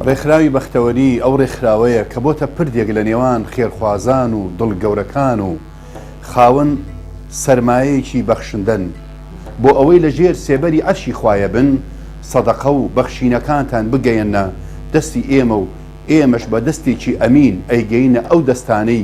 ڕێکخراوی بەختەوەری ئەو ڕێکخراوەیە کە بۆتە پردێک لە نێوان خێرخوازان و دڵ گەورەکان و خاون سەرمایەکی بەخشندەن بۆ ئەوەی لە ژێر سێبەری عەرشی خوایە بن سەدەقە و بەخشینەکانتان بگەیەنە دەستی ئێمە و ئێمەش بە دەستێکی ئەمین ئەیگەینە ئەو دەستانەی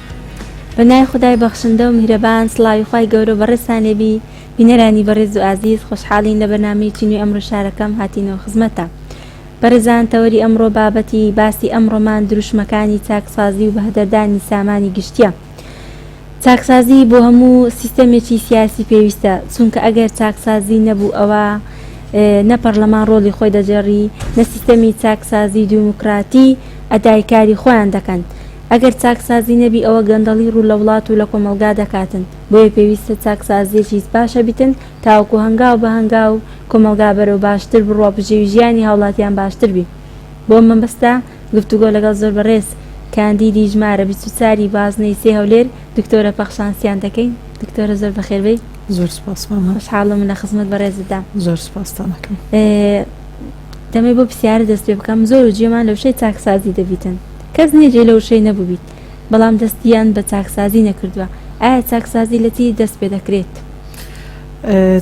پەنای خودای بەخشندە و میهرەبان سڵاوی خوای گەورە و بەڕێزتان لێبی بینەرانی بەڕێز و ئازیز خۆشحاڵین لە بەرنامەیەکی نوێی ئەمڕۆی شارەکەم هاتینەوە خزمەتتان بەڕێزان تەوەری ئەمڕۆ بابەتی باسی ئەمڕۆمان دروشمەکانی چاکسازی و بەهەدەردانی سامانی گشتیە چاکسازی بۆ هەموو سیستەمێکی سیاسی پێویستە چونکە ئەگەر چاکسازی نەبوو ئەوە نە پەرلەمان ڕۆڵی خۆی دەجێڕی نە سیستەمی چاکسازی دیموکراتی ئەدای کاری خۆیان دەکەن ئەگەر چاکسازی نەبی ئەوە گەندەڵی ڕوو لە وڵات و لە کۆمەڵگا دەکاتن، بۆیە پێویستە چاکسازیەکی سپاشە بیتن تاوەکو هەنگاو بە هەنگاو کۆمەڵگا بەرەو باشتر بڕوا بژێوی ژیانی هاوڵاتیان باشتر بی. بەو مەبەستە گفتوگۆ لەگەڵ زۆر بەڕێز کاندیدی ژمارە بیست و چار ی بازنەی سێ هەولێر دکتۆرە پەخشان سیان دەکەین. دکتۆرە زۆر بەخێر بێی. زۆر سوپاس مامە. خۆشحاڵم لە خزمەت بەڕێزتدام. زۆر سوپاستان ئەکەم. دەمەوێت بۆ پرسیارە دەست پێ بکەم زۆر و جوێمان لە وشەی چاکسازی دەبیتن، کەس نیە جێ لە وشەی نەبوبیت بەڵام دەستیان بە چاکسازی نەکردوە ئایا چاکسازی لە چی دەست پێ دەکرێت؟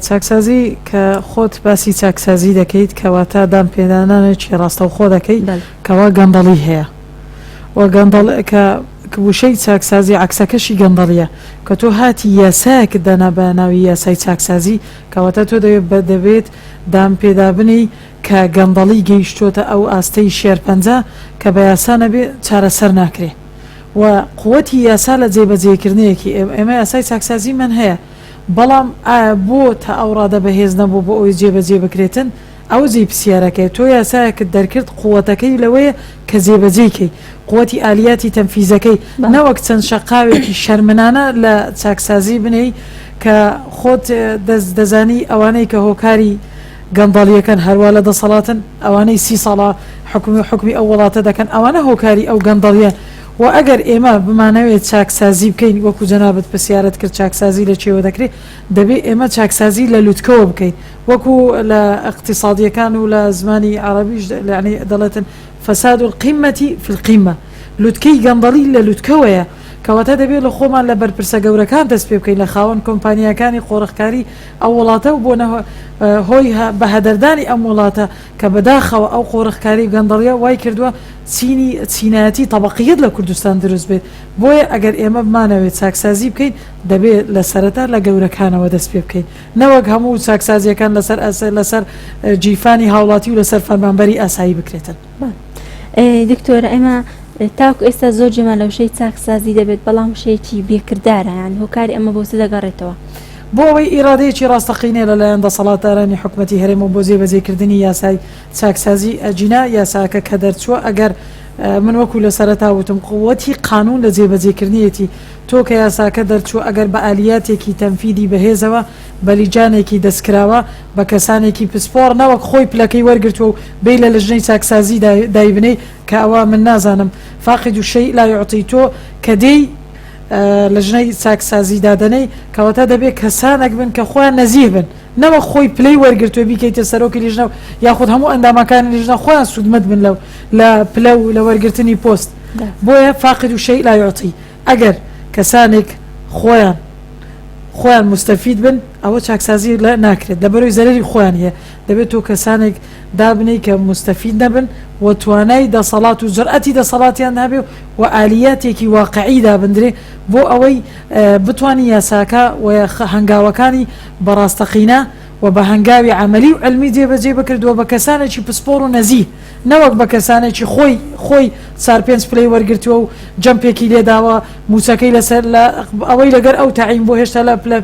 چاکسازی کە خۆت باسی چاکسازی دەکەیت کەواتە دان پێدانانێکی ڕاستەوخۆ دەکەی کەوا گەندەڵی هەیە و گەندەڵ کە وشەی چاکسازی عەکسەکەشی گەندەڵیە کە تۆ هاتی یاسایەکت دانا بە ناوی یاسای چاکسازی کەواتە تۆ دەبێت دان پێدابنێی کە گەندەڵی گەیشتۆتە ئەو ئاستەی شێرپەنجە کە بە یاسا نەبێ چارەسەر ناکرێ و قوتی یاسا لە جێ بەجێ کردنێکی ئێ ئێمە یاسای چاکسازی من هەیە بەڵام ئایا بۆ تا ئەو ڕادە بە هێز نەبوو بۆ ئەوەی جێ بەجێ بکرێتن ئەوە جێی پسیارەکەیە تۆ یاسایەکت دەرکرد قوتەکەی لەوەیە کە جێ بەجێی کەی قوتی ئالیاتی تەنفیزەکەی نەوەک چەند شەقاوێکی شەرمنانە لە چاکسازی بنێی کە خۆت دەست دەزانی ئەوانەی کە هۆکاری گەندەڵیەکەن هەروا لە دەسەڵاتن ئەوانەی سی ساڵە حکومی و حکومی ئەو وڵاتە دەکەن ئەوانە هۆکاری ئەو گەندەڵیە و ئەگەر ئێمە بمانەوێت چاکسازی بکەین وەکو جەنابت پرسیارت کرد چاکسازی لە چێوە دەکرێت دەبێت ئێمە چاکسازی لە لوتکەوە بکەین وەکو لە اقتصادیەکان و لە زمانی عربیش لەعنی دەڵێتن فساد القیمەتی فی القیمە لوتکەی گەندەڵی لە لوتکەوەیە کەواتە دەبێت لە خۆمان لە بەرپرسە گەورەکان دەست پێ بکەین لە خاوەن کۆمپانیاکانی قۆرخکاری ئەو وڵاتە و بۆنە هۆی بەهەدەردانی ئەم وڵاتە کە بەداخەوە ئەو قۆرخکاری و گەندەڵیە وای کردوە چینی چینایەتی تەبەقیەت لە کوردستان دروست بێت بۆیە ئەگەر ئێمە بمانەوێت چاکسازی بکەین دەبێت لە سەرەتا لە گەورەکانەوە دەست پێ بکەین نەوەک هەموو چاکسازیەکان لەسەر لەسەر گیرفانی هاوڵاتی و لەسەر فەرمانبەری ئاسایی بکرێتن. دکتۆرە ئێمە تاکو ئێستا زۆر جێمان لە وشەی چاکسازی دەبێت بەڵام وشەیەکی بێکردارەیان هۆکاری ئەمە بۆ چ دەگەڕێتەوە بۆ ئەوەی ئیرادەیەکی ڕاستەقینە لەلایەن دەسەڵاتدارانی حکومەتی هەرێم و بۆ جێبەجێکردنی یاسای چاکسازی ئەگینا یاساکە کە دەرچووە ئەگەر من وەکو لە سەرەتا وتم قووەتی قانون لە جێبەجێکردنیەتی تۆ کە یاساکە دەرچووە ئەگەر بە ئالیاتێکی تەنفیدی بەهێزەوە بەلیجانێکی دەستکراوە بە کەسانێکی پسپۆڕ نەوەک خۆی پلەکەی وەرگرتوە و بێی لە لجنەی چاکسازی دا دایبنێی کە ئەوە من نازانم فاقد الشیء لا یعطی تۆ کە دێی لجنەی چاکسازی دادەنێی کەواتە دەبێ کەسانەک بن کە خۆیان نەزیه بن نەوەک خۆی پلەی وەرگرتوە بیکەیتە سەرۆکی لیژنە و یاخود هەموو ئەندامەکانی لیژنە خۆیان سودمەد بن لە پلە و لە وەرگرتنی پۆست بۆیە فاقد الشیء لا یعطی ئەگەر کەسانێک خۆیان خۆیان موستەفید بن ئەوە چاکسازی لە ناکرێت لە بەرەوی زەرەری خۆیان یە دەبێت تۆ کەسانێک دابنێی کە موستەفید نەبن و توانای دەسەڵات و جرئەتی دەسەڵاتیان هەبێ و ئالیاتێکی واقعی دابندرێ بۆ ئەوەی بتوانین یاساکە و هەنگاوەکانی بەڕاستەقینە و بە هەنگاوی عەمەلی و علمی جێبەجێ بکرێت و بە کەسانێکی پسپۆڕ و نەزیه نەوەک بە کەسانێکی خۆی خۆی چار پێنج پلەی وەرگرتووە و جەمپێکی لێداوە مووچەکەی لەسەر لە ئەوەی لەگەر ئەو تەعین بووە هێشتا لە پلە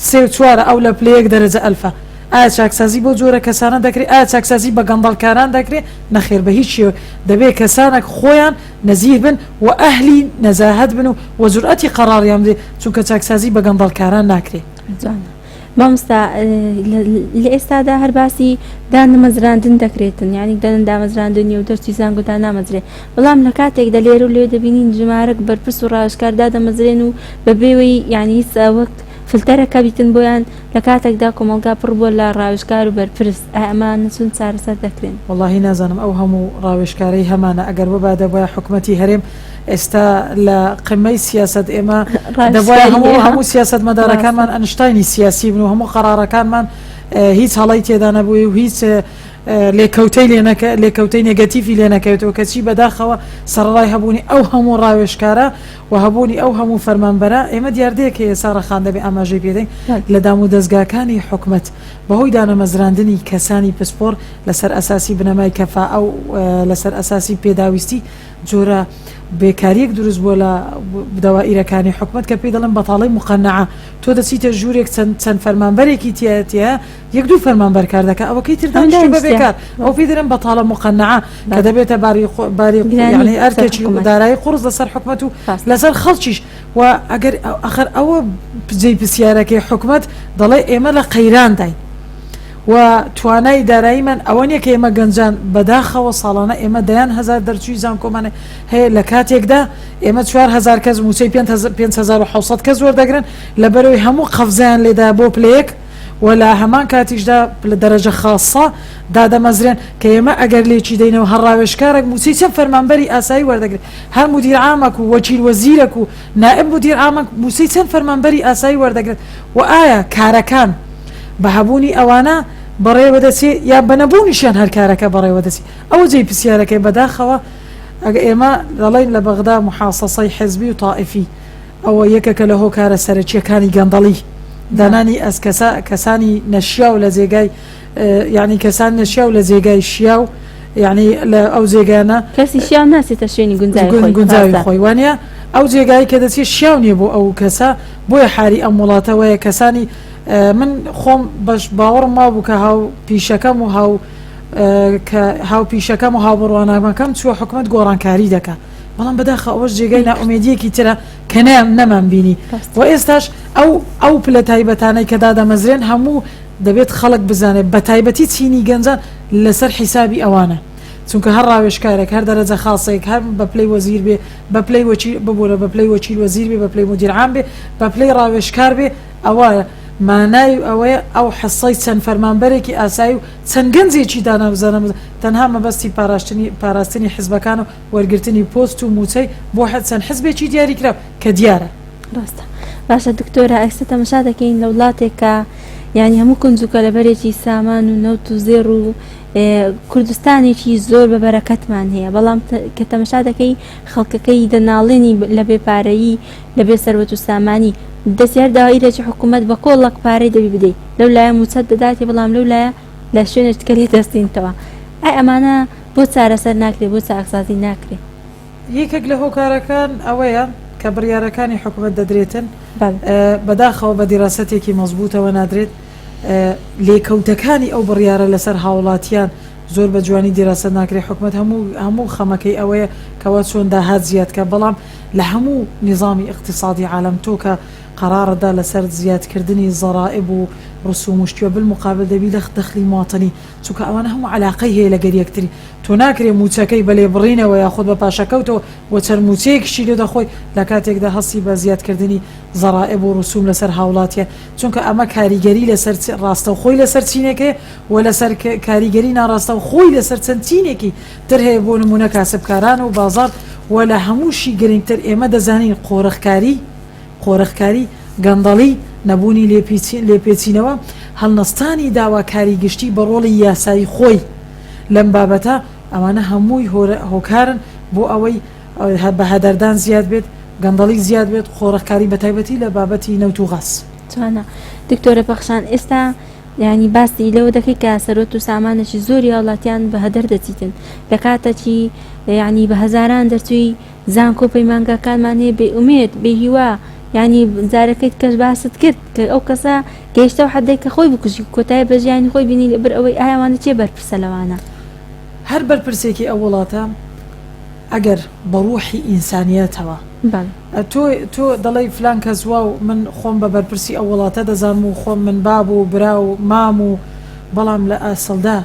سێ و چوارە ئەو لە پلە یەک دەرەجە ئەلفە ئایا چاکسازی بەو جۆرە کەسانە دەکرێ ئایا چاکسازی بە گەندەڵکاران دەکرێ نەخێر بە هیچ شێوەک دەبێ کەسانەک خۆیان نەزیه بن و ئەهلی نەزاهەت بن و وە جورئەتی قەڕاڕیان بدێ چونکە چاکسازی بە گەندەڵکاران ناکرێ. مامۆستا لە ئێستادا هەر باسی دانمەزراندن دەکرێتن یعنی دەن دامەزراندنی و دەرچی زانکۆ دانامەزرێ بەڵام لە کاتێک دە لێرو لەوێ دەبینین ژمارەک بەرپرس و ڕاوێژکار دادەمەزرێن و بە بێوەی یعنی وەک فلتەرەکە بیتن بۆیان لە کاتێکدا کۆمەڵگا پڕ بوە لە ڕاوێژکار و بەرپرس ئایا ئەمانە چۆن چارەسەر دەکرێن. وەڵاهی نازانم ئەو هەموو ڕاوێژکارەی هەمانە ئەگەر ببا دەبوایە حکومەتی هەرێم ئێستا لە قمەی سیاسەت ئێمە دەبواە هەموو هەموو سیاست مەدارەکانمان ئەنشتینی سیاسی بن و هەموو قەرارەکانمان هیچ هەڵی تێدا نەبووی و هیچ لێکەوتەی لێنەکە لێکەوتەی نگەتیفی لێ نەکەوێتەوە کەچی بەداخەوە سەرڕای هەبوونی ئەو هەموو ڕاوێشکارە و هەبوونی ئەو هەموو فەرمانبەرە ئێمە دیاردەیەکە ئێسا ڕەخان دەبێ ئاماژەی پێدەین لە دام و دەستگاکانی حکومت بەهۆی دانەمەزراندنی کەسانی پسپۆر لەسەر ئەساسی بنەمای کەفا ئەو لەسەر ئەساسی پێداویستی جۆرە بێکاریەک دروست بووە لە دەوائیرەکانی حکومەت کە پێی دەڵێن بەتاڵەی مقەنەعە تۆ دەچیتە ژوورێک چەند چەند فەرمانبەرێکی تایەتە یەک دوو فەرمانبەر کار دەکە ئەوەکەی تر دانیشتە بە بێکار ئەو پێی دەرن بەتاڵە مقەنەعە کە دەبێتە باری باری گرانی ئەرکێکی دارایی قوڕس لەسەر حکومەت و لەسەر خەڵکیش و ئەگەر ئەخر ئەوە جێی پرسیارەکەی حکومەت دەڵێ ئێمە لە قەیران داین و توانای داراییمان ئەوە نیە کە ئێمە گەنجان بەداخەوە ساڵانە ئێمە دەیان هەزار دەرچووی زانکۆمان هەیە لە کاتێکدا ئێمە چوار هەزار کەس مووچەی پێنج هەزار پێنج هەزار و حەوت سەد کەس وەردەگرن لەبەرەوەی هەموو قەفزەیان لێدایە بۆ پلە یەک و لە هەمان کاتیشدا پلە دەرەجە خاسە دادەمەزرێن کە ئێمە ئەگەر لێکی دەینەوە هەر ڕاوێژکارێک مووچەی چەند فەرمانبەری ئاسایی وەردەگرێت هەر مودیر عامەک و وەکیل وەزیرەک و نائب مدیر عام مووچەی چەند فەرمانبەری ئاسایی وەردەگرێت و ئایا کارەکان بە هەبوونی ئەوانە بەڕێوەدەچێ یان بە نەبوونیشیان هەر کارەکە بەڕێوەدەچێ؟ ئەوە جێی پرسیارەکەیە بەداخەوە ئەگە ئێمە دەڵێین لە بەغدا موحاسەسەی حزبی و تائیفی ئەوە یەکەکە لە هۆکارە سەرەکییەکانی گەندەڵی دانانی ئەز کەسانی نەشیاو لە جێگای یەعنی کەسان نەشیاو لە جێگای شیاو یەعنی لە ئەو جێگانە کەسی شیاو ناچێتە شوێنی گونجای گون- خۆی گونجاوی ڕاستە. خۆی وانە ئەو جێگایی کە دەچێت شیاو نییە بۆ ئەو کەسە بۆیە حالی ئەم وڵاتە وایە کەسانی ئە، من خۆم بەش باوەڕم وابوو کە هاو پیشەکەم و هاو ئە، کە هاو پیشەکەم و هاوبڕوانامەکەم چووە حکومەت گۆڕانکاری دەکا بەڵام بەداخە ئەوەش جێگای نا نەیکرد ئومێدییەکی ترە کە نەیان نەمانبینی ڕاستە. و ئێستاش ئەو ئەو پلە تایبەتانەی کە دادەمەزرێن هەموو دەبێت خەڵک بزانێت بەتایبەتی چینی گەنجان لەسەر حیسابی ئەوانە چونکە هەر ڕاوێژکارێک هەر دەرەجە خاسێک هەر بەپلەی وەزیر بێ بەپلەی وەکیل ببورە بەپلەی وەکیل وەزیر بێ بەپلەی مدیر عام بێ بەپلەی ڕاوێژکار بێ ئەوە مانای ئەوەیە ئەو حەسەی چەند فەرمانبەرێکی ئاسایی و چەند گەنجێکی دانا بزانە تەنها مەبەستی پاراستنی پاراستنی حزبەکانە و وەرگرتنی پۆست و موچەی بۆ چەند حزبێکی دیاریکراو کە دیارە ڕاستە باشە دکتۆرە ئێستا تەمەشا دەکەین لە وڵاتێک کە یعنی هەموو کونجوکە لە بەرێکی سامان و نەوت و زێڕ و کوردستانێکی زۆر بە بەرەکەتمان هەیە بەڵام کە تەمەشا دەکەی خەڵکەکەی دەناڵێنی لە بێپارەیی لە بێ سەروەت و سامانی دەستیار داوای لەچ حکوومەت بە کۆڵک پارەی دەبی بدەیت لەو لایە موچەت دەداتی بەڵام لەو لایە لە شوێنێکتکە لێ دەستینتەوە ئەی ئەمانە بۆ چارەسەر ناکرێت بۆ چاکسازی ناکرێت یەکێک لە هۆکارەکان ئەوەیە کە بڕیارەکانی حکومەت دەدرێتن بەداخەوە بە دیراسەتێکی مەزبووتەوە نادرێت، لێکەوتەکانی ئەو بڕیارە لەسەر هاوڵاتیان زۆر بە جوانی دیراسەت ناکرێت، حکومەت هەموو هەموو خەمەکەی ئەوەیە کەوا چۆن داهات زیاد بکات، بەڵام لە هەموو نیزامی ئیقتیسادی عالەم تۆ کە قەرارت دا لەسەر زیادکردنی زەرائب و رسوم و شتی و بالمقابل دەبی لە دەخلی مواطنی چونکە ئەوانە هەموو عەلاقەی هەیە لەگەر یەکتر تۆ ناکرێ مووچەکەی بە لێبڕینەوە یاخود بە پاشەکەوتەوە و چەند مووچەیەکیشی لێ دەخۆی لە کاتێکدا هەستی بە زیادکردنی زەرائب و رسوم لەسەر هاوڵاتیە چونکە ئەمە کاریگەری لەسەر چ راستەوخۆی لەسەر چینێک هەیە و لەسەر ک کاریگەری ناراستەوخۆی لەسەر چەند چینێکی تر هەیە بۆ نموونە کاسبکاران و بازاڕ و لە هەمووشی گرنگتر ئێمە دەزانین قۆرخکاری قۆرخکاری، گەندەڵی، نەبوونی لێپێچینەوە، هەڵنەستانی داواکاری گشتی بە ڕۆڵی یاسایی خۆی لەم بابەتە، ئەمانە هەمووی هۆکارن بۆ ئەوەی بەهەدەردان زیاد بێت، گەندەڵی زیاد بێت، قۆرخکاری بە تایبەتی لە بابەتی نەوت و غاز. جوانە دکتۆرە پەخشان ئێستا یانی باسی لەوە دەکەی کە سەرۆت و سامانێکی زۆری هاوڵاتیان بە هەدەر دەچیتن لە کاتەکی یانی بە هەزاران دەرچوی زانکۆ پەیمانگاکانمان هەیە بێ ئومێد بێ هیوا یانی جارەکەیت کەس باست کرد کە ئەو کەسە گەیشتە ئەو حەدەی کە خۆی بکوژی کۆتایی بە ژیانی خۆی بینی لە بەر ئەوەی ئای ئەوانە کێ بەرپرسە لەوانە. هەر بەرپرسێکی ئەو وڵاتە ئەگەر بە ڕوحی ئینسانیەتەوە تۆ تۆ دەڵێی فلان کەس واو من خۆم بە بەرپرسی ئەو وڵاتە دەزانم و خۆم من باب و برا و مام و بەڵام لە ئەسڵدا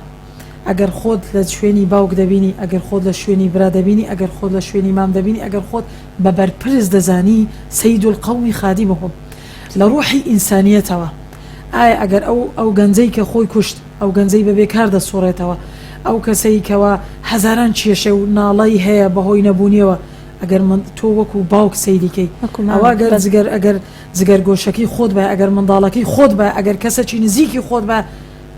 ئەگەر خۆت لە شوێنی باوک دەبینی، ئەگەر خۆت لە شوێنی برا دەبینی، ئەگەر خۆت لە شوێنی مام دەبینی، ئەگەر خۆت بە بەرپرس دەزانی، سید القوم خادمهم، لە ڕوحی ئینسانیەتەوە، ئایا ئەگەر ئەو ئەو گەنجەی کە خۆی کوشت، ئەو گەنجەی بە بێ کار دەسوڕێتەوە، ئەو کەسەی کەوا هەزاران کێشە و ناڵەی هەیە بە هۆی نەبوونیەوە، ئەگەر من تۆ وەکو باوک سەیری کەی، ئەوا گەر جگەر ئەگەر جگەرگۆشەکەی خۆت بایە، ئەگەر منداڵەکەی خۆت بایە، ئەگەر کەسەکی نزیکی خۆت بایە،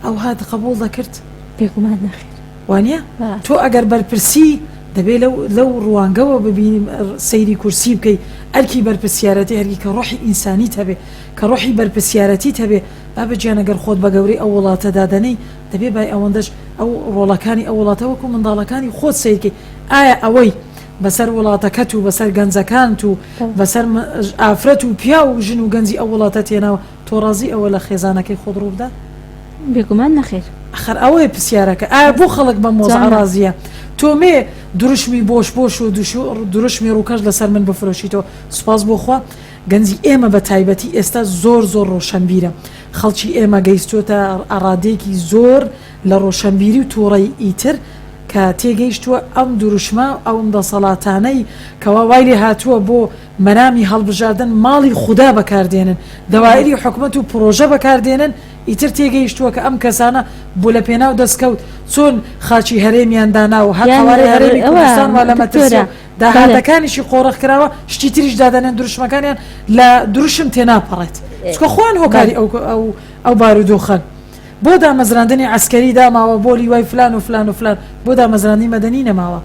ئەوها دقبوڵ دەکرد؟ بێگومان نەخێر. وانیە؟ تۆ ئەگەر بەرپرسی دەبێ لەو لەو ڕوانگەوە ببینیم سەیری کورسی بکەی ئەرکی بەرپرسیارەتی هەرگی کە ڕۆحی ئینسانیت هەبێ کە ڕۆحی بەرپرسیارەتیت هەبێ بابە گیان ئەگەر خۆت بە گەورەی ئەو وڵاتە دادەنێی دەبێ بای ئەوەندەش ئەو ڕۆڵەکانی ئەو وڵاتە وەکو منداڵەکانی خۆت سەیرکەی ئایا ئەوەی بەسەر وڵاتەکەت و بەسەر گەنجەکانت و بەسەر ئافرەت و پیاو و ژن و گەنجی ئەو وڵاتە تێناوە تۆ ڕازی ئەوە لە خێزانەکەی خۆت ڕووبدا؟ بێگومان نەخێر. ئەخەر ئەوەیە پسیارەکە ئایا بۆ خەڵک بەم وەزعە ڕازیە؟ تۆ مێ دروشمی بۆش بۆش و دروشمی ڕووکەش لەسەر من بفرۆشیتەوە سوپاس بۆ خوا گەنجی ئێمە بە تایبەتی ئێستا زۆر زۆر ڕۆشەنبیرە خەڵکی ئێمە گەیستووەتە ئەڕادێکی زۆر لە ڕۆشەنبیری و تووڕەی ئیتر کە تێگەیشتووە ئەم دروشمە ئەوم دەسەڵاتانەی کەوا وای لێ هاتووە بۆ مەرامی هەڵبژاردن ماڵی خودا بەکاردێنن، دەوائری حکومەت و پرۆژە بەکاردێنن، ئیتر تێگەیشتووە کە ئەم کەسانە بۆ لە پێناو دەستکەوت چۆن خاکی هەرێمیان دانا و هەر قەوارەی هەرێمی کوردستان وا لە مەترسی و داهاتەکانیشی قۆرخ کراوە شتی تریش دادەنێن دروشمەکانیان لە دروشم تێناپەڕێت چونکە خۆیان هۆکاری ئەو بارودۆخەن. بۆ دامەزراندنی عەسکەری داماوە بۆ لیوای فلان و فلان و فلان بۆ دامەزراندنی مەدەنی نەماوە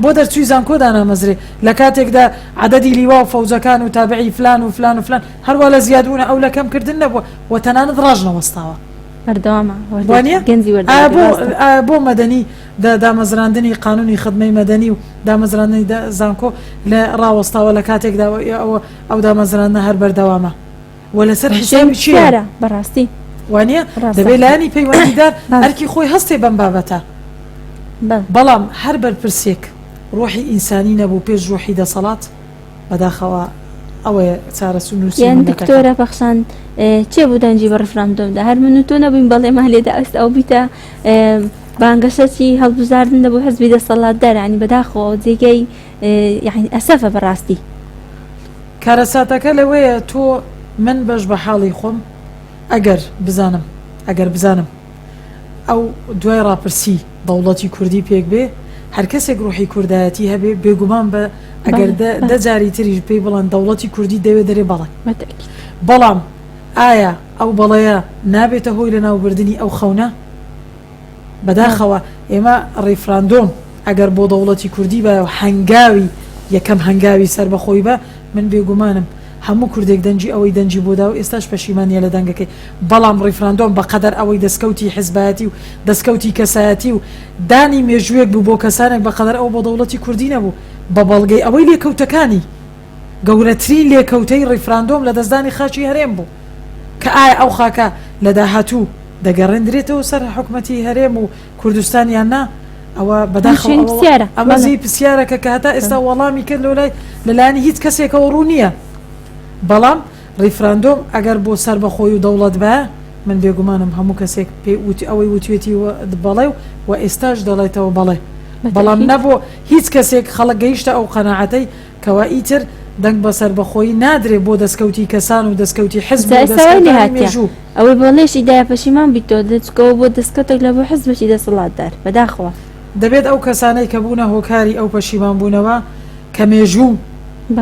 بۆ دەرچووی زانکۆ دانامەزرێ لە کاتێکدا عەدەدی لیوا و فەوجەکان و تابعی فلان و فلان و فلان هەروا لە زیاد بوونە ئەو لە کەم کردن نەبووە و تەنانەت ڕاش نەوەستاوە بەردەوامە وانە گەنجی وەردە بۆ مەدەنی دامەزراندنی قانونی خدمەی مەدەنی و دامەزراندنی زانکۆ لە ڕاوەستاوە لە کاتێکدا ئەوە ئەو دامەزراندە هەر بەردەوامە و لەسەر حسابی چیارە بەڕاستی وانە دەبێت لانی پەیوەندیدار ئەرکی خۆی هەستێ بەم بابەتە بەڵام هەر بەرپرسێک ڕۆحی ئینسانی نەبوو پێش ڕۆحی دەسەڵات بەداخەوە ئەوەیە چارەسو نووسیانکتۆرە پەخشان چێ بوو دەنجی بە ڕفراندۆمدا هەر من و تۆ نەبووین بەڵێمان لێدا ئەست ئەو بیتە بانگەشەچی هەڵبزاردن دەبوو حزبی دەسەڵات دەرانی بەداخەوە جێگەی یعنی ئەسەفە بەڕاستی. کارەساتەکە لەوەیە تۆ من بەش بە حاڵی خۆم ئەگەر بزانم ئەگەر بزانم ئەو دوای ڕاپرسی دەوڵەتی کوردی پێک بێ هەر کەسێک ڕوحی کوردایەتی هەبێ بێگومان بە ئەگەر دە جاری تریش پێی بڵند دەوڵەتی کوردی دەوێ دەرێ بەڵێ بەڵام ئایا ئەو بەڵەیە نابێتە هۆی لە ناوبردننی ئەو خەونە بەداخەوە ئێمە ڕیفراندۆم ئەگەر بۆ دەوڵەتی کوردی بایە و هەنگاوی یەکەم هەنگاوی سەربەخۆی با، من بێگومانم هەموو کوردێک دەنگی ئەوەی دەنگی بۆ داو ئێستاش پەشیمانە لە دەنگەکەی، بەڵام ڕیفراندۆم بەقەدەر ئەوەی دەسکەوتی حزبایەتی و دەسکەوتی کەسایەتی و دانی مێژووێک بوو بۆ کەسانێک بەقەدەر ئەوە بۆ دەوڵەتی کوردی نەبوو بە بەڵگەی ئەوەی لێکەوتەکانی گەورەترین لێکەوتەی ڕیفراندۆم لەدەستدانی خاکی هەرێم بوو کە ئایا ئەو خاکە لە داهاتوو دەگەڕێندرێتەوە سەر حکومەتی هەرێم و کوردستان یان نا ئەوە بەداخەوە ئەمە جێی پرسیارەکە کە هەتا ئێستا وەڵامی کرد لۆ لای لەلایەنی هیچ کەسێکەوە ڕوو نییە بەڵام ڕیفراندۆم ئەگەر بۆ سەر بەخۆی و دەوڵەت بە من بێگومانم هەموو کەسێک پێی وتی ئەوەی وتوێتی بەڵێ و ئێستاش دەڵێتەوە بەڵێ بەڵام نەبوو هیچ کەسێک خەڵک گەیشتە ئەو قەنەعەتەی کەوا ئیتر دەنگ بە سەربەخۆیی نادرێ بۆ دەسکەوتی کەسان و دەسکەوتی حزب و دەسکەوتانی مێژوو. ئەوەی بۆ لێش ئیدایە پەشیمان بیتەوە دە چکەوە بۆ دەسکەوتێک لە بۆ حزبێکی دەسەڵاتدار. بەداخەوە. دەبێت ئەو کەسانەی کە بوونە هۆکاری ئەو پەشیمان بوونەوە کە مێژوو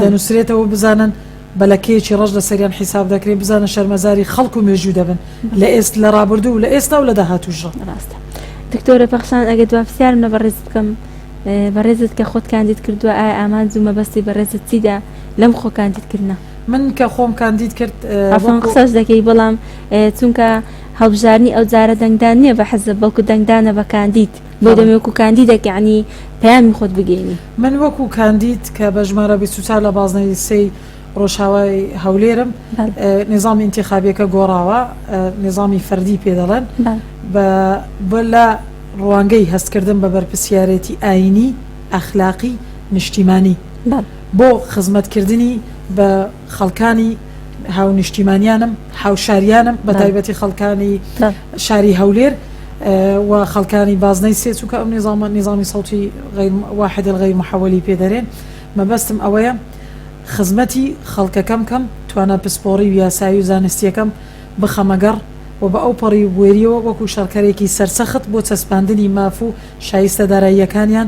دەنووسرێتەوە بزانن بە لەکەیەکی ڕەش لە سەریان حیساب دەکرێن بزانە شەرمەزاری خەڵک و مێژوو دەبن لە ئێست لە ڕابردوو و لە ئێستا و لە داهاتووشڕا. ڕاستە دکتۆرە پەخشان ئەگەر دوا پرسیارم لە بەڕێزت بکەم بەڕێزت کە خۆت کاندید کردووە ئایا ئامانج و مەبەستی بەڕێزت چیدا لەم خۆ کاندید کردنە من کە خۆم کاندید کرد ئەفۆن قسەش دەکەی بەڵام چونکە هەڵبژارنی ئەو جارە دەنگدان نییە بە حەزە بەڵکو دەنگدانە بە کاندید بۆ دەمێک و کاندیدەکەعنی پەیامی خۆت بگەینی من وەکو کاندید کە بە ژمارە بیست و چوار لە بازنەی سێی ڕۆژاوای هەولێرم نیزامی ئینتیخابیەکە گۆڕاوە نیزامی فەردی پێ دەڵێن بە لە ڕوانگەی هەستکردن بە بەرپسیارەتی ئاینی ئەخلاقی نیشتیمانی بۆ خزمەتکردنی بە خەڵکانی هاونیشتیمانیانم، هاوشاریانم بە تایبەتی خەڵکانی شاری هەولێر و خەڵکانی بازنەی سێ چونکە ئەم نیزامە نیزامی سەوتی واحدە غیر محەوەلی پێدەرێن مەبەستم ئەوەیە خزمەتی خەڵکەکەم کەم توانا پسپۆڕی و یاسایی و زانستیەکەم بخەمەگەڕ و بە ئەو پەڕی و بوێریەوە وەکو شەڕکەرێکی سەرسەخت بۆ چەسپاندنی ماف و شایستە داراییەکانیان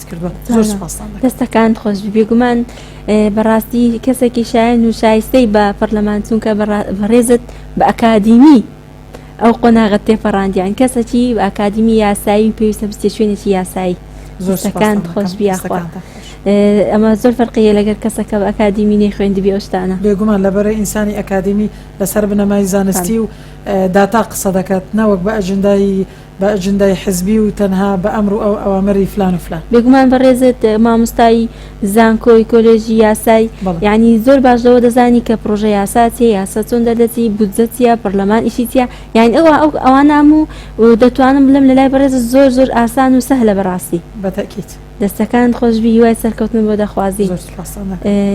دەستەکانت خۆش بێگومان بەڕاستی کەسێکی شایەن و شایستەی بە پەرلەمان چونکە بەڕێزت بە ئەکادیمی ئەو قۆناغت تێپەڕاندیان کەسەکی ئاکادمی یاسایی و پێویستە بستێ شوێنێکی یاسایی زۆرەکان خۆش بیاخوا ئەمە زۆر فەرقیە لەگەر کەسەکە بە ئەکادیمی نەی خوێندبی ئەوشتانە بێگومان لەبەرە ئینسانی ئەکادیمی لەسەر بنەمای زانستی و داتا قسە دەکات نەوەک بە ئەجندایی بە ئەجندای حزبی و تەنها بە ئەمر و ئەوامری فلان و فلان. بێگومان بەڕێزت مامۆستای زانکۆی کۆلێژی یاسای یانی زۆر باش لەوە دەزانی کە پڕۆژە یاسا چیە یاسا چۆن دەردەچی بودجە چیە پەڕلەمان ئیشی چیە یانی ئەوە ئەو ئەوانە هەموو دەتوانم بلێم لە لای بەڕێزت زۆر زۆر ئاسان و سەهلە بەڕاستی. بە تەئکید. دەستەکانت خۆشبی هیوای سەرکەوتنم بۆ دەخوازین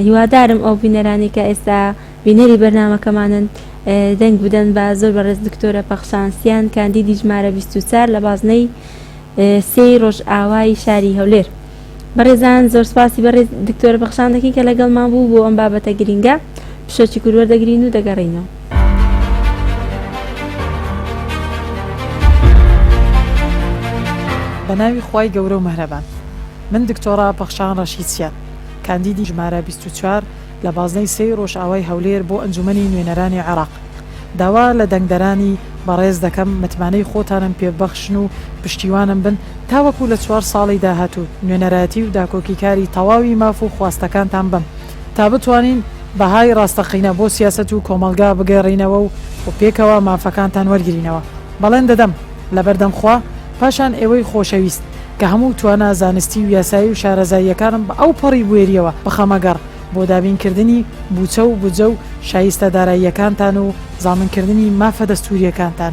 هیوادارم ئەو بینەرانەی کە ئێستا. بینەری بەرنامەکەمانن دەنگ بدەن بە زۆر بەڕێز دکتۆرە پەخشان سیان کاندیدی ژمارە بیست و چار لە بازنەی سێ ی ڕۆژئاوای شاری هەولێر بەڕێزان زۆر سپاسی بەڕێز دکتۆرە پەخشان دەکەین کە لەگەڵمان بوو بۆ ئەم بابەتە گرینگە پشەکی کور وەردەگرین و دەگەڕێینەوە. بە ناوی خوای گەورە و مەهرەبان من دکتۆڕا پەخشان ڕەشید سیان کاندیدی ژمارە بیست و چار لە بازنەی سێی ڕۆژئاوای هەولێر بۆ ئەنجومەنی نوێنەرانی عێراق داوا لە دەنگدەرانی بەڕێز دەکەم متمانەی خۆتانم پێ ببەخشن و پشتیوانم بن تاوەکو لە چوار ساڵی داهاتوو نوێنەرایەتی و داکۆکیکاری تەواوی ماف و خواستەکانتان بم تا بتوانین بەهای ڕاستەقینە بۆ سیاسەت و کۆمەڵگا بگەڕینەوە و پێکەوە مافەکانتان وەرگرینەوە بەڵێن دەدەم لەبەردەم خوا پاشان ئێوەی خۆشەویست کە هەموو توانا زانستی و یاسایی و شارەزاییەکانم بە ئەو پەڕی بوێرییەوە بخەمە گەڕ بۆ دابین کردنی بوچە و بودجە و شایستە داراییەکانتان و زامن کردنی مافە دەستوورییەکانتان.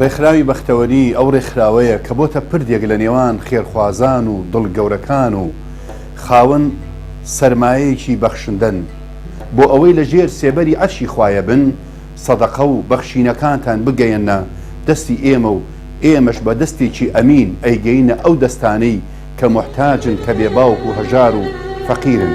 ڕێکخراوی بەختەوەری ئەو ڕێکخراوەیە کە بۆتە پردێک لە نێوان خێرخوازان و دڵ گەورەکان و خاوەن سەرمایەیەکی بەخشندەن بۆ ئەوەی لە ژێر سێبەری عەرشی خوایە بن سەدەقە و بەخشینەکانتان بگەیەننە دەستی ئێمە و ئێمەش بە دەستێکی ئەمین ئەیگەینە ئەو دەستانەی کە موحتاجن کە بێ باوک و هەژار و فەقیرن.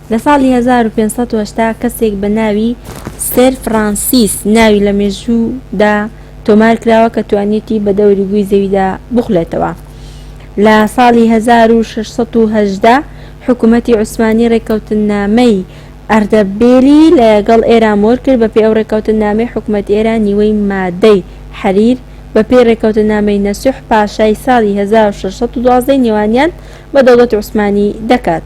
لە ساڵی 1580 کەسێک بە ناوی سێر فرانسیس ناوی لە مێژوودا تۆمار کراوە کە توانیویەتی بە دەوری گووی زەویدا بخولێتەوە لە ساڵی 1618 حکوومەتی عوسمانی ڕێککەوتننامەی ئەردەبێلی لەگەڵ ئێران مۆر کرد بەپێی ئەو ڕێککەوتننامەی حکوومەتی ئێران نیوەی مادەی حەریر بەپێی ڕێککەوتننامەی نەسوح پاشای ساڵی 1612 ی نێوانیان بە دەوڵەتی عوسمانی دەکات.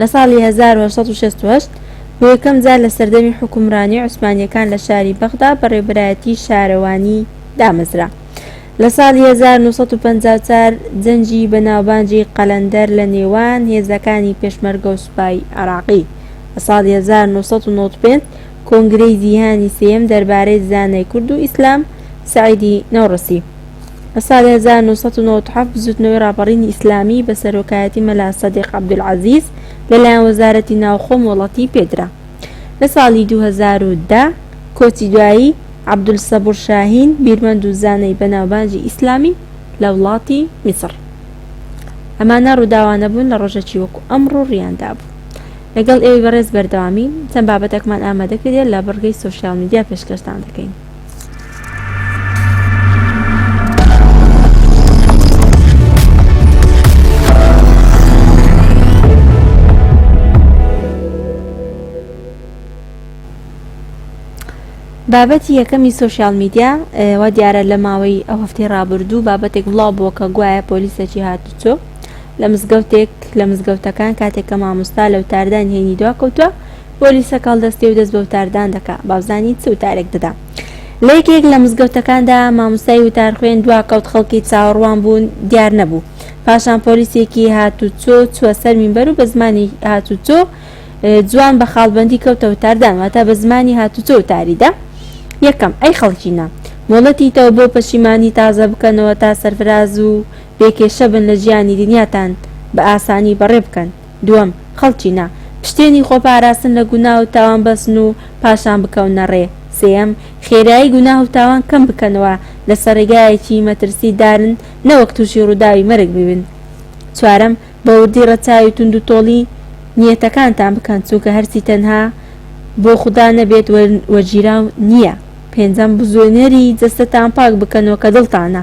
لە ساڵی 1868 بۆ یەکەم جار لە سەردەمی حوکمڕانی عوسمانیەکان لە شاری بەغدا بە ڕێبەرایەتی شارەوانی دامەزرا لە ساڵی 1954 جەنگی بەناوبانگی قەلەندەر لە نێوان هێزەکانی پێشمەرگە و سوپای عێراقی لە ساڵی 1995 کۆنگرەی جیهانی سێیەم دەربارەی زانای کورد و ئیسلام سەعیدی نەوڕسی لە ساڵی 1997 بزوتنەوەی ڕاپەڕینی ئیسلامی بە سەرۆکایەتی مەلا سەدیق عەبدولعەزیز لە لایەن وەزارەتی ناوخۆ مۆڵەتی پێدرا لە ساڵی 2010 کۆچی دوایی عەبدولسەبور شاهین بیرمەند و زانای بەناوبانگی ئیسلامی لە وڵاتی میسڕ. ئەمانە ڕووداوانە بوون لە ڕۆژەکی وەکو ئەمڕۆ ڕوویاندا بوو. لەگەڵ ئێوەی بەڕێز بەردەوامی چەند بابەتەکمان ئامادە کردیە لە بڕگەی سۆشیال میدیا پێشکەشتان دەکەین. بابەتی یەکەمی سوسیال میدیا وا دیارە لە ماوەی ئەو هەفتەی ڕابردوو بابەتێک بڵاو بووە کە گوایە پۆلیسەکی هاتوچۆ لە مزگەوتێک لە مزگەوتەکان کاتێک کە مامۆستا لە وتاردانی هەینی دوا کەوتووە بۆ لیسەکە هەڵدەستێ و دەست بە وتاردان دەکا با بزانین چ وتارێک دەدا لە یەکێک لە مزگەوتەکاندا مامۆستای وتارخوێن دوا کەوت خەڵکی چاوەڕوان بوون دیار نەبوو پاشان پۆلیسێکی هاتوچۆ چووە سەر مینبەر و بە زمانی هاتوچۆ جوان بە خاڵبەندی کەوتە وتاردان واتە بە زمانی هاتوچۆ وتاری دا یەکەم ئەی خەڵکینە مۆڵەتیتەوە بۆ پەشیمانی تازە بکەنەوە تا سەرفراز و بێ کێشە بن لە ژیانی دنیاتان بە ئاسانی بەڕێ بکەن دووەم خەڵکی نا پشتێنی خۆ پاراستن لە گوناه و تاوان بەستن و پاشان بکەونە ڕێ سێیەم خێرایی گوناه و تاوان کەم بکەنەوە لە سەر ڕێگایەکی مەترسی دارن نەوەک تووشی ڕووداوی مەرگ ببن چوارەم بە وردی ڕەچاوی توند و تۆڵی نیەتەکانتان بکەن چونکە هەرچی تەنها بۆ خودا نەبێت وەرگیراو نیە پێنجەم بزوێنەری جەستەتان پاک بکەنەوە کە دڵتانە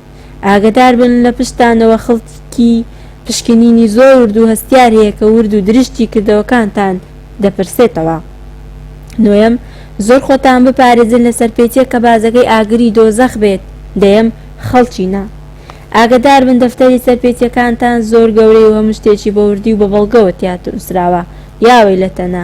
ئاگەداربن لە پشتتانەوە خڵکی پشکنینی زۆر ورد و هەستیار هەیە کە ورد و درشتی کردەوەکانتان دەپرسێتەوە نۆیەم زۆر خۆتان بپارێزن لە سەرپێچیەک کە بازەکەی ئاگری دۆزەخ بێت دەیەم خەڵکینە ئاگەداربن دەفتەری سەرپێچیەکانتان زۆر گەورەی و هەموو شتێکی بە وردی و بە بەڵگەوە تیاتنوسراوە یاوەیلەتەنە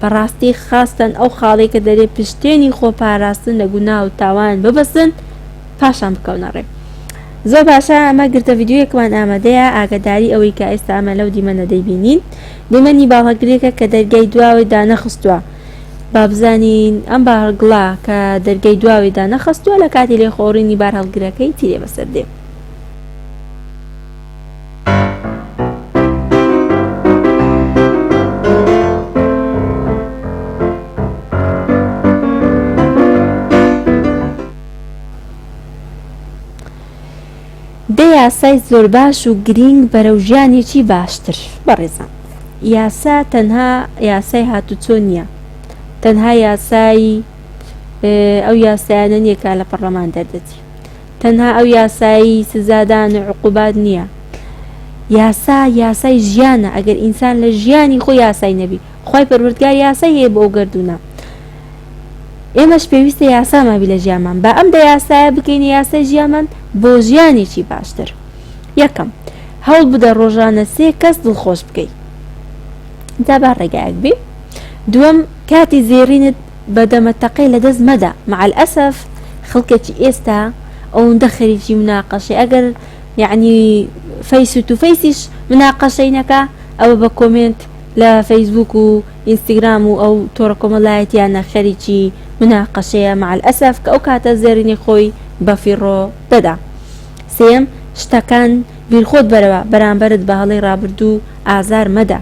بەڕاستی خاستەن ئەو خاڵەی کە دەرێ پشتێنی خۆ پاراستن لە گوناه و تاوان ببەستن پاشان بکەونە ڕێ زۆر باشە ئەمە گرتە ڤیدیۆیەکمان ئامادەیە ئاگەداری ئەوەی کە ئێستا ئەمە لەو دیمەنە دەیبینین دیمەنی باڵەگرێکە کە دەرگای دواوەی دانەخستووە بابزانین ئەم باهەڵگڵە کە دەرگای دواوەی دانەخستووە لە کاتی لێخۆڕینی بارهەڵگرەکەی تیرێ بەسەر دێ دە یاسای زۆرباش و گرینگ بەرەو ژیانێکی باشتر بەڕێزان یاسا تەنها یاسای هاتوچۆ نیە تەنها یاسای ئەو یاسایانە نیە کە لە پەڕلەمان دەردەچێت تەنها ئەو یاسایی سزادان و عقوبات نیە یاسا یاسای ژیانە ئەگەر ئینسان لە ژیانی خۆی یاسای نەبی خوای پەروەردگار یاسای هەیە بۆ ئەو گەردونە ئێمەش پێویستە یاسامان بی لە ژیانمان با ئەم دە یاسایە بکەینە یاسای ژیانمان بۆ ژیانێکی باشتر یەکەم هەوڵ بدە ڕۆژانە سێ کەس دڵخۆش بکەی جا با ڕێگایەک بێ دووەم کاتی زێڕینت بە دەمە تەقەی لە دەست مەدە. مع الاسف خەڵکەکی ئێستا ئەوندە خەریکی مناقەشەی ئەگەر یەعنی فەیس تو فەیسیش مناقەشەی نەکا ئەوە بە کۆمێنت لە فەیسبووک و ئینستگرام و ئەو تۆڕە کۆمەلایەتیانە خەریکی مناقەشەیە مع الاسف کە ئەو کاتە زێڕینەی خۆی بە فیڕۆ دەدا. سێیەم، شتەکان بیرخۆت بەرەوە، بەرامبەرت بە هەڵەی ڕابردوو ئازار مەدە.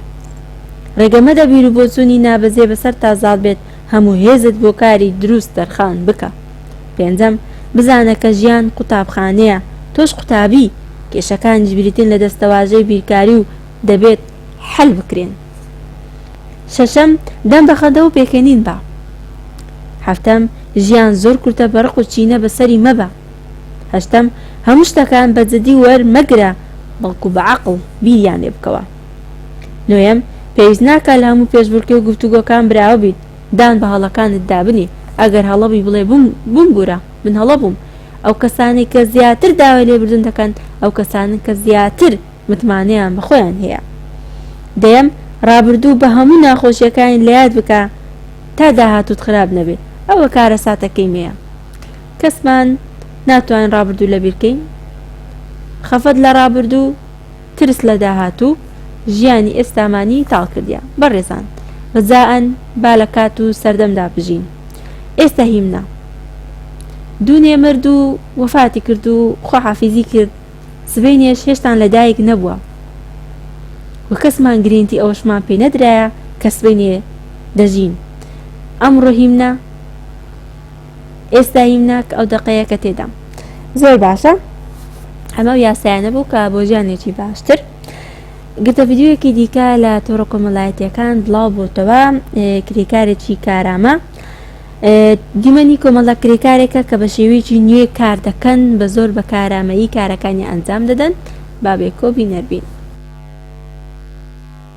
ڕێگە مەدە بیروبۆچوونی نابەجێ بەسەرتا زاڵ بێت، هەموو هێزت بۆ کاری دروست تەرخان بکە. پێنجەم، بزانە کە ژیان قوتابخانەیە، تۆش قوتابی، کێشەکانیش بریتین لە دەستەواژەی بیرکاری و دەبێت حەل بکرێن. شەشەم، دەم بە خەندە و پێکەنین بە. هەفتەم، ژیان زۆر کورتە بە ڕق و کینە بەسەری مەبە. هەشتەم، هەموو شتەکان بە جدی وەر مەگرە بەڵکو بە عەقڵ بیریان لێ بکەوە. نۆیەم، پێویست ناکا لە هەموو پێشبڕکێ و گفتوگۆکان براوە بیت، دان بە هەڵەکانت دا بنێ، ئەگەر هەڵە بووی بڵێ ببوورە من هەڵە بووم. ئەو کەسانەی کە زیاتر داوای لێ بردن دەکەن ئەو کەسانەن کە زیاتر متمانەیان بە خۆیان هەیە. دەیەم، ڕابردوو بە هەموو ناخۆشیەکانی لە یاد بکە تا داهاتووت خراپ نەبێ، ئەوە کارەساتەکەی مێیە. کەسمان ناتوانین ڕابردوو لەبیر کەین، خەفەت لە ڕابردوو، ترس لە داهاتوو، ژیانی ئێستامانی تاڵ کردیە. بەڕێزان ڕجائەن با لە کات و سەردەمدا بژین. ئێستە هیمنە. دوونێ مرد و وەفاتی کرد و خواحافیزی کرد، سبەینێش هێشتان لە دایک نەبووە و کەسمان گرینتی ئەوەشمان پێ نەدرایە کە سبەینێ دەژین. ئەمڕۆ هیمنە. ئێستا یم ناک ئەو دەقەیە کە تێدام. زۆر باشە ئەمە و یاسایانە بوو کە بۆ ژیانێکی باشتر گرتە ڤیدیویەکی دیکە لە تۆڕە کۆمەڵایەتیەکان بڵاو بۆتەوە کرێکارێکی کارامە دیمەنی کۆمەڵە کرێکارێکە کە بە شێوەیەکی نوێ کار دەکەن بە زۆر بە کارامەیی کارەکانی ئەنجام دەدەن بابێکۆ بینەربین.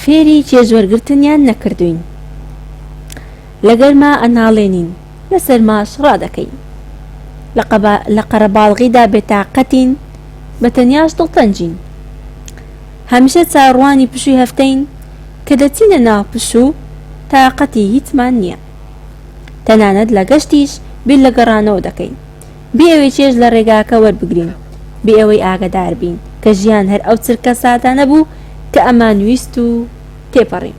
فێری چێژوەرگرتنیان نەکردووین لە گەرما ئەناڵێنین لە سەرماش ڕادەکەین لە قەرەباڵغیدا بێتاقەتین بە تەنیاش دڵتەنگین هەمیشە چاوەڕوانی پشووی هەفتەین کە دەچینە ناو پشوو تاقەتی هیچمان نییە تەنانەت لە گەشتیش بیر لە گەڕانەوە دەکەین بێ ئەوەی چێژ لە ڕێگاکە وەربگرین، بێ ئەوەی ئاگەدار بین کە ژیان هەر ئەو چرکە سادانە بوو کە ئەمان ویست و تێپەڕین.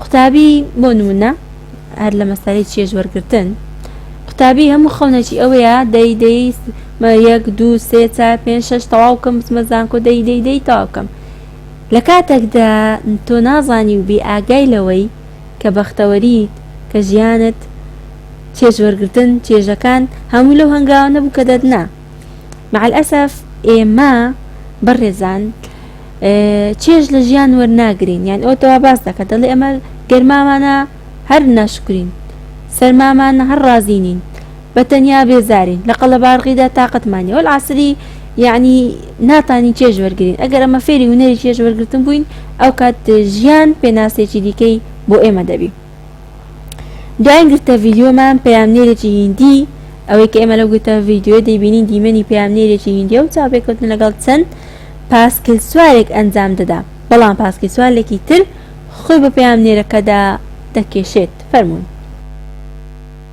قوتابی، بۆ نموونە هەر لە مەسەلەی چێژ وەرگرتن، قوتابی هەموو خەونەکی ئەوەیە دەی دەی یەک دوو سێ چار پێنج شەش تەواو بکەم بچمە زانکۆ دەی دەی دەی تەواو بکەم لە کاتێکدا تۆ نازانی و بێ ئاگای لەوەی کە بەختەوەریت کە ژیانت چێژوەرگرتن چێژەکان هەموو لەو هەنگاوانە بوو کە دەتنا مع الاسف ئێمە بەڕێزان چێژ لە ژیان وەرناگرین یان ئەو تەوا باس دەکە دەڵێ ئەمە گەرمامانە هەر ناشکرین سەرمامانە هەر ڕازینین بە تەنیا بێزارین لە قەڵەبارغیدا تااقەتمانی ئەول عسری یعنی ناتانی چێژ وەرگین ئەگەر ئەمە فێری هوەری چێژ وەرگتن بووین ئەو کات ژیان پێناسێکی دیکەی بۆ ئێمە دەبی دوایین گرتە ڤیدیۆمان پەیامنێرێکی هیندی ئەوەی کە ئێمە لەو گرتە ڤیدیۆیە دەیبینین دیمەنی پەیامنێرێکی هیندیە و چاوپێکەوتن لەگەڵ چەند پاسکیلسوارێک ئەنجام دەدا بەڵام پاسکیلسوارلێکی تر خۆی بە پەیامنێرەکەدا دەکێشێت فەرموون.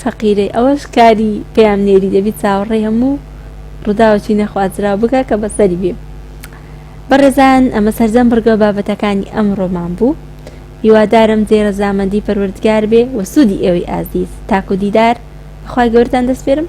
فەقیرەی ئەوەش کاری پەیام نێری دەبی چاوەڕێی هەموو ڕوداوەکی نەخوازراو بکە کە بەسەری بێ بەڕێزان ئەمە سەرجەم بڕگەو بابەتەکانی ئەمڕۆمان بوو هیوادارم جێ ڕەزامەندی پەروەردگار بێ وە سودی ئێوەی ئازیز تاکو دیدار بەخوای گەورەتان دەسپێرم